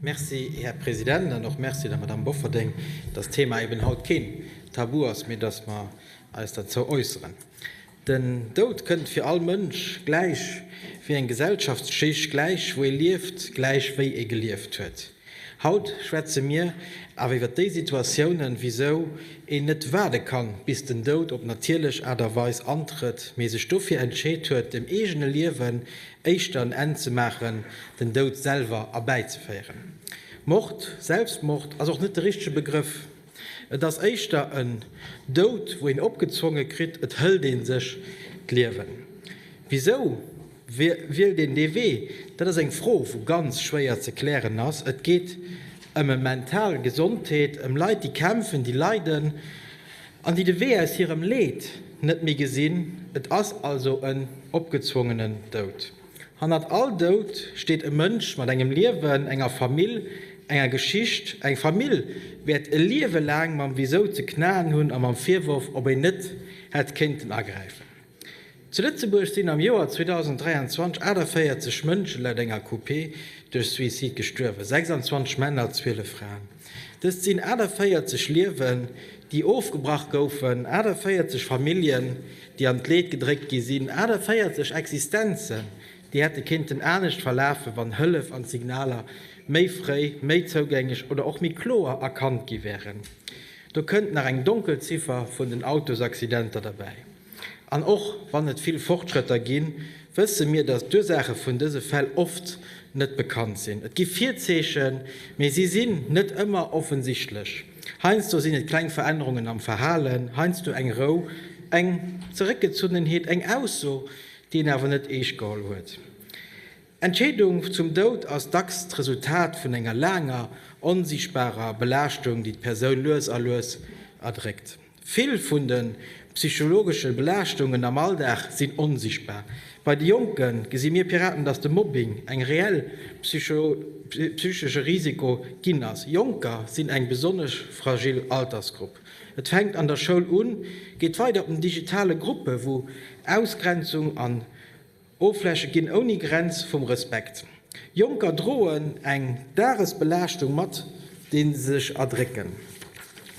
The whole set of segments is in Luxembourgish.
Merci, Här President, an och Merci der Madamm Bofferding, dass d'Thema eben haut keen Tabu ass, mee dass mer eis derzou äusseren. Den Doud kënnt fir all Mënsch, gläich wéi eng Gesellschaftsschicht, gläich wou ee lieft, gläich wéi ee gelieft huet. Haut schwätze mir awer iwwer déi Situatiounen, wisou een net waarde kann, bis den Doud op natierlech Aart a Weis antrëtt, mee sech dofir entscheet huet, dem eegene Liewen éischter en Enn ze maachen, den Doud selwer erbäizeféieren. Mord, Selbstmord ass och net de richtege Begrëff. Et ass éischter en Doud, wou een opgezwonge kritt, et hëlt ee sech d'Liewen. Wisou wielt een dee Wee? Dat ass eng Fro, wou ganz schwéier ze klären ass. Et geet ëm e mental Gesondheet, ëm Leit, déi kämpfen, déi leiden. An déi de Wee aus hirem Leed net méi gesinn. Et ass also en opgezwongenen Doud. Hannert all Doud steet e Mënsch mat engem Liewen, enger Famill, enger Geschicht. Eng Famill wäert e Liewe laang mam Wisou ze knaen hunn a mam Virworf, ob een net hätt kéinten agräifen. Zu Lëtzebuerg sinn am Joer 2023 48 Mënschen laut enger QP duerch Suicide gestuerwen, 26 Männer a 12 Fraen. Dëst sinn 48 Liewen, déi ofgebrach goufen, 48 Familljen, déi an d'Leed gedréckt gi sinn, 48 Existenzen, déi hätte kéinten anescht verlafen, wann Hëllef an d'Signaler méi fréi, méi zougänglech oder och méi kloer erkannt gi wären. Do kënnt nach eng Donkelziffer vun den Autosaccidenter derbäi. An och wann et vill Fortschrëtter ginn, wësse mir, dass d'Ursaache vun dëse Fäll oft net bekannt sinn. Et gi Virzeechen, mee si sinn net ëmmer offensichtlech. Heiansdo sinn et kleng Verännerungen am Verhalen, heiansdo eng Rou, eng Zeréckgezunnenheet, eng Ausso, déi een awer net eescht geholl huet. Entscheedung zum Doud ass dacks d'Resultat vun enger laanger onsiichtbarer Belaaschtung, déi d'Persoun lues a lues erdréckt. Vill vun de psychologesche Belaaschtungen am Alldag sinn onsichtbar. Bei de Jonke gesi mir Piraten, datt de Mobbing eng reell psychesche Risiko ginn ass. Jonker sinn eng besonnesch fragil Altersgrupp. Et fänkt an der Schoul un, geet weider op den digitale Gruppe wou Ausgrenzung an. Offläche ginn ouni Grenz vum Respekt. Jonker droen eng Dagesbelaaschtung mat, déi se sech erdrécken.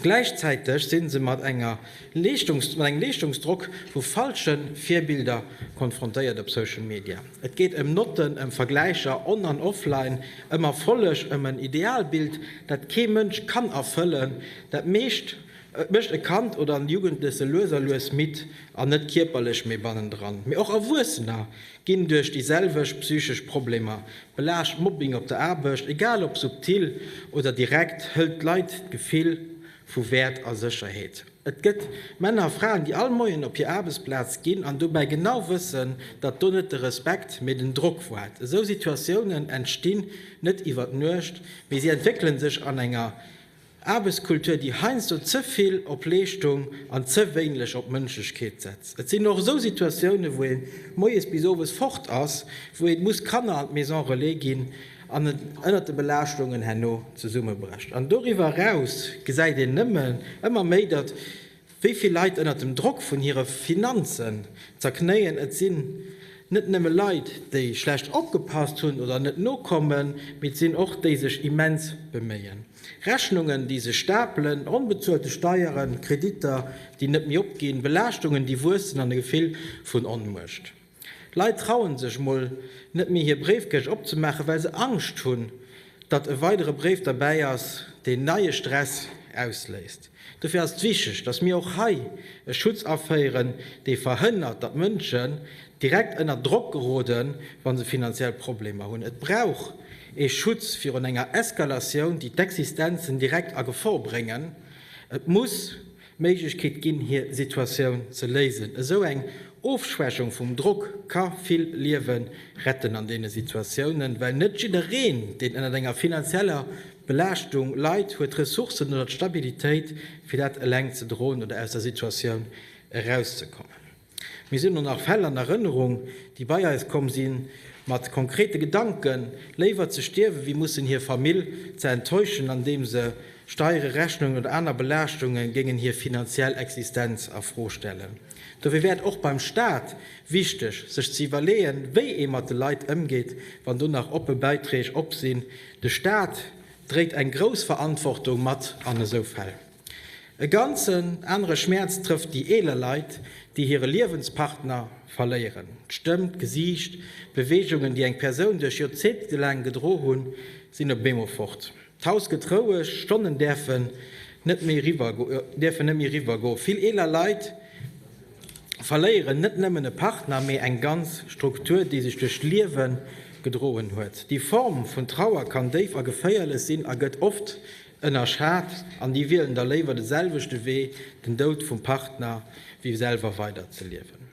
Gläichzäiteg si se mat engem Leeschtungsdrock vu falsche Virbilder konfrontéiert op Social Media. Et geet ëm Notten, ëm Vergläicher on an offline, ëm Erfolleg, ëm en Idealbild, dat kee Mënsch kann erfëllen. Dat meescht Et mécht e Kand oder en Jugendleche lues a lues midd, an net kierperlech, mee bannendran. Mee och Erwuessener ginn duerch déi selwecht psychesch Problemer belaascht. Mobbing op der Aarbecht, egal ob subtil oder direkt, hëlt d'Leit d'Gefill vu Wäert a Sécherheet. Et gëtt Männer a Fraen, déi all Moien op hir Aarbechtsplaz ginn an dobäi genau wëssen, datt do net de Respekt, mee den Drock waart. Esou Situatiounen entstinn net iwwer Nuecht, mee si entwéckele sech an enger Aarbechtskultur, déi heiansdo ze vill op Leeschtung an ze wéinlech op Mënschlechkeet setzt. Et sinn och esou Situatiounen, wou ee moies bis owes fort ass, wou ee muss d'Kanner an d'Maison relais ginn an et ënnert de Belaaschtungen herno zesummebrecht. An doriwwer eraus gesäit een nëmmen ëmmer méi, datt wéi vill Leit ënnert dem Drock vun hire Finanzen zerknéien. Et sinn net nëmme Leit, déi schlecht opgepasst hunn oder net nokommen, mee et sinn och déi sech immens beméien. Rechnungen, déi sech stapelen, onbezuelte Steieren, Kreditter, déi net méi opginn, Belaaschtungen, déi wuessen an e Gefill vun Onmuecht. Leit trauen sech emol net méi hir Bréifkäsch opzemaachen, well se Angscht hunn, datt e weidere Bréif derbäi ass, deen neie Stress ausléist. Dofir ass et wichteg, dass mir och hei e Schutz aféieren, dee verhënnert, datt Mënschen direkt ënner Drock geroden, wa se finanziell Problemer hunn. Et brauch ee Schutz virun enger Eskalatioun, déi d'Existenzen direkt a Gefor bréngen. Et muss d'Méiglechkeet ginn, hir Situatioun ze léisen. Esou eng Ofschwächung vum Drock ka vill Liewe retten an deene Situatiounen, well net jiddereen, deen ënnert enger finanzieller D'Belaaschtung Leit huet d'Ressourcen oder d'Stabilitéit, fir dat eleng ze droen oder aus der Situatioun erauszekommen. Mir sinn elo nach Fäll an Erënnerung, déi bei eis komm si mat konkrete Gedanken, léiwer ze stierwen, wéi mussen hir Famill ze enttäuschen, andeem se Steiere, Rechnungen oder aner Belaaschtungen géingen hir finanziell Existenz a Fro stellen. Dofir wär et och beim Staat wichteg, sech ze iwwerleeën, wéi ee mat de Leit ëmgeet, wann do nach oppe Bäiträg op sinn. De Staat dréit eng grouss Verantwortung mat an esou Fäll. E ganzen anere Schmäerz trëfft déi eeler Leit, déi hire Liewenspartner verléieren. D'Stëmm, d'Gesiicht, d'Beweegungen, déi eng Persoun duerch Joerzéngte laang gedro hunn, sinn op eemol fort. D'Haus gëtt roueg, Stonnen däerfen net méi eriwwer go. Vill eeler Leit verléieren net nëmmen e Partner, mee eng ganz Struktur, déi sech duerch d'Liewe gedroen huet. Déi Form vun Trauer kann déif a geféierlech sinn a gëtt oft ënnerschat, an déi wielen da léiwer de selwechte Wee, den Doud vum Partner, wéi selwer weider ze liewen.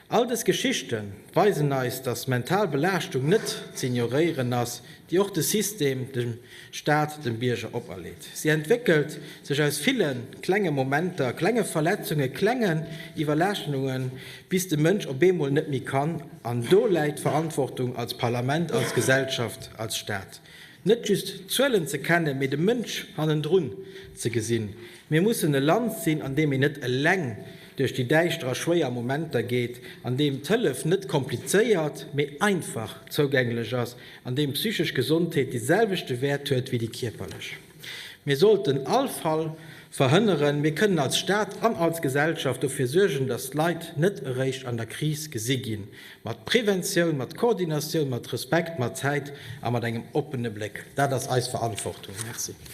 All dës Geschichte weisen eis, datt mental Belaaschtung net z'ignoréieren ass, déi och de System, de Staat, dem Bierger operleet. Si entwéckelt sech aus ville klenge Momenter, klenge Verletzungen, klengen Iwwerlaaschtenungen, bis de Mënsch op eemol net méi kann. An do läit d'Verantwortung als Parlament, als Gesellschaft, als Staat, net just d'Zuelen ze kennen, mee de Mënsch hannendrun ze gesinn. Mir mussen e Land sinn, an deem een net eleng duerch déi däischter a schwéier Momenter geet, an deem d'Hëllef net komplizéiert, mee einfach zougänglech ass, an deem d'psychesch Gesondheet dee selwechte Wäert huet wéi déi kierperlech. Mir sollten all Fall verhënneren. Mir kënnen als Staat an als Gesellschaft dofir suergen, datt d'Leit net eréischt an der Kris gesi ginn, mat Preventioun, mat Koordinatioun, mat Respekt, mat Zäit a mat engem oppene Bléck. Dat ass eis Verantwortung. Merci.